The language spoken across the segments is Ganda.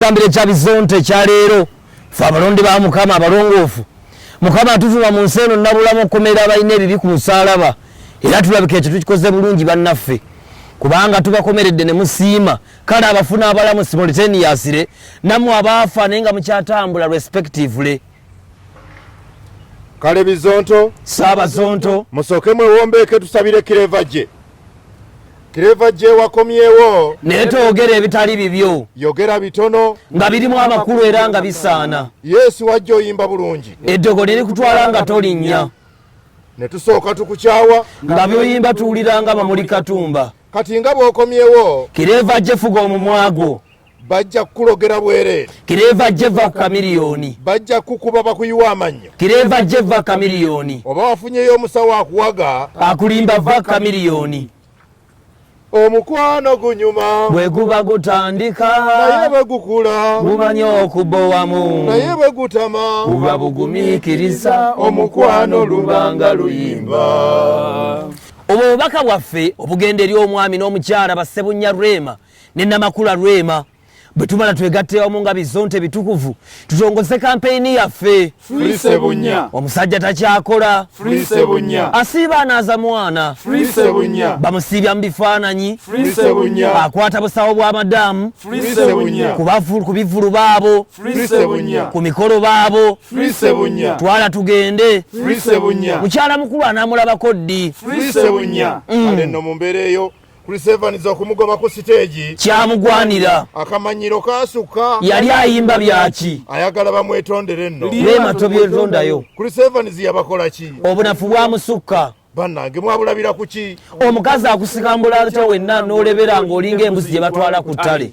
Ekitambiro ekya bizonto ekya leero fe abalonde ba mukama abalongoofu mukama atuvuma mu nsi eno nabulamu okukomera abalina ebibi ku musaalaba era tulabika ekyo tukikoze bulungi bannaffe kubanga tubakomeredde ne musiima kale abafuna abalamu simulteniyasire namwe abaafa naye nga mukyatambula respectively kale bizonto saabazonto musooke mwewombeeke tusabire kireva gye Clever gye wakomyewo naye toyogera ebitali bibyo yogera bitono nga birimu amakulu era nga bisaana yesu wajja oyimba bulungi eddogo liri kutwala nga tolinnya ne tusooka tukukyawa nga byoyimba tuwulira nga bamuli katumba kati nga bw'okomyewo kireeva gye fuga omumwagwo bajja kukulogera bwereere kireeva jeva kamiliyoni bajja kukuba bakuyiwa amannyo kireeva jeva kamiliyoni oba wafunyeyo omusawo akuwaga akulimba va kamiliyoni omukwano gunyuma bwe guba gutandika naye bwe gukula gumanya okubowamu naye bwe gutama buba bugumiikiriza omukwano lubanga luyimba obwo bubaka bwaffe obugenda eri omwami n'omukyala bassebunya rwema ne namakula rwema bwe tumala twegatte wamu nga bizonte bitukuvu tutongoze kampeyini yaffe omusajja takyakola asiiba anaaza mwana bamusiibya mu bifaananyi akwata busawo bwa madamu ku bivulu baabo ku mikolo baabo twala tugende mukyala mukulu anaamulabako ddi mm. Chris Evans okumugoba ku siteegi kyamugwanira. Akamanyiro kaasukka. Yali ayimba byaki? Ayagala bamwetondere nno. Leema tobyetondayo. Chris Evans yabakola ki? Obunafu bwamusukka. Bannange mwabulabira ku ki? Omukazi akusikambula atya wenna n'olebera ng'olinga embuzi gye batwala ku ttale.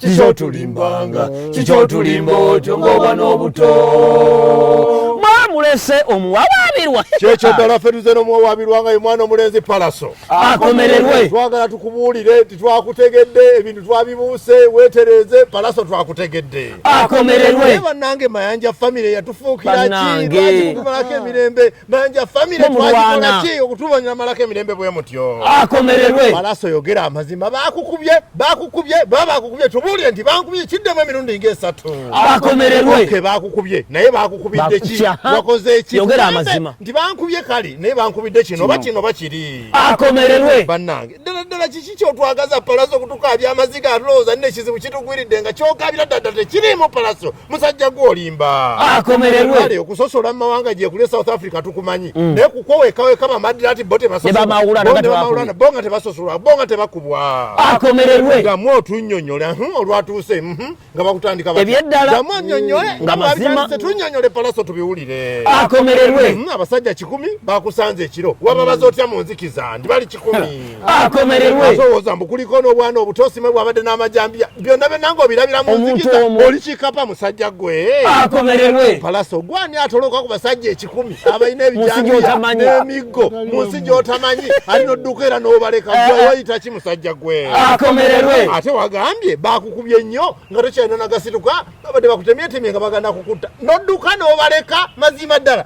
kikyotulimbanga kikyotulimba otyo ngaoba n'obuto mwamulese omuwawaabirwa kyekyo ddala ffe tuze n'omuwawaabirwa nga ye mwana omulenzi palaso akomererwe twagala tukubuulire nti twakutegedde ebintu twabibuuse weetereeze palaso twakutegedde akomererwe bannange mayanja famire yatufuukira kiakimalako emirembe Nanja family twajikola ki okutubanyira malako emirembe bwe mutyo. Akomererwe. Balaso yogera amazima bakukubye bakukubye baba bakukubye tubulire nti bakukubye kidde mu mirundi nge esatu. Akomererwe. Ke bakukubye naye bakukubidde ki wakoze ki yogera amazima nti bakukubye kali naye bakukubidde kino oba kino oba kiri. Akomererwe. Banange ddala ddala kiki kyotwagaza palaso kutuka abya maziga alooza ne kizibu kitugwiridde nga kyokabira ddala tekiriimu palaso. musajja gwe olimba akomererwe okusosola mu mawanga gyekuli e south africa tukumanyi mm. naye kukwowekaweka bamadirati bo tebasosbonga tebasosolwa bonga tebakubwa akomererwe gamu otunyonyole hmm, olwatuuse hmm, hmm, nga bakutandika ebyeddalamu anyonyole tunyonyole palaso tubiwulire akomererwe abasajja kikumi bakusanze ekiro wababaza otya mu nzikiza ndi bali kikumi akomererweowoza mbu kuliko n'obwana obutosime bwabadde n'amajambiya byonna byenanga obirabira mu nzikiza oli kikapa musajja gwe akomererwe palasa ogwani atoloka ku basajja ekikumi abalina ebijambiya n'emiggo mu nsi gy'otamanyi ali nodduka era n'obaleka eh. gwewayita ki musajja gwe akomererwe ate wagambye bakukubye nnyo nga tokyalina nagasituka babadde bakutemyetemye nga bagana kukutta nodduka n'obaleka mazima ddala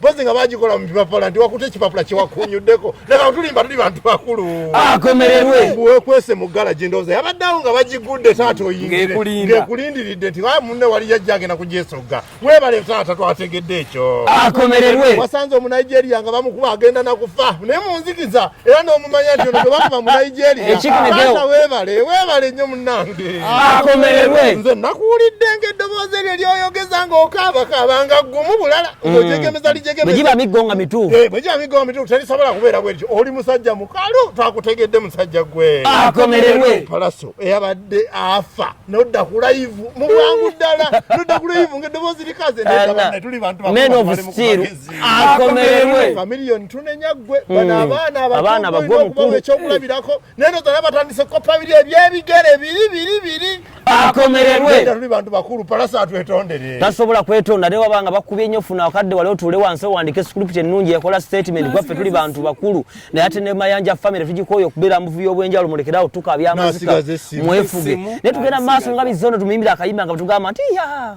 bozi nga bagikola mu bipapula nti wakuta ekipapula kyewakunyuddeko naga tulimba tuli bantu bakulu akomererwe ah, wekwese mu galagi ndowooza yabaddeawo nga bagigudde taata oyingirengekulindiridde nti a ah, munne wali yajja agenda kugyesogga webale taata twategedde ekyo akomererwe ah, wasanze omunigeria nga bamukuba agenda nakufa naye munzikiza era n'omumanya nti ono tebakuba mu nigeriataata weebale weebale nnyo munnange akomererwe nze nakuwulidde ng'eddoboozi eryo lyoyogeza ng'okaabakaaba nga gumu bulala mm. ng'ojegemeza lijegemeza giba miggo nga mituufu eh, bwe giba miggo nga mituufu terisobola kubeera bwerityo oli musajja mukalu twakutegedde musajja gwe akomererwe palaso eyabadde afa nodda ku layivu mu bwangu ddala nodda ku layivu ng'eddoboozi likaze nedda banne tuli bantu bakulu akomererwe familion tunenya gwe hmm. bana abaana abaana bagwe mukuru ekyo kulabirako neno zana batandise ko familia ebyebigere biri biri biri akomererwe ndio bantu bakuru palasa atwetondere tasobola kwetonda ne wabanga bakubye nyo funa akadde wale otule wanse wandike script ennungi ekola statement gwa fe tuli bantu bakuru na yate ne mayanja family tujikoyo kubera mvuvi obwenjalo mulekerawo tukabya amazika mwefuge ne tugenda maso ngabi zono tumimbira akayimba nga tugamba nti ya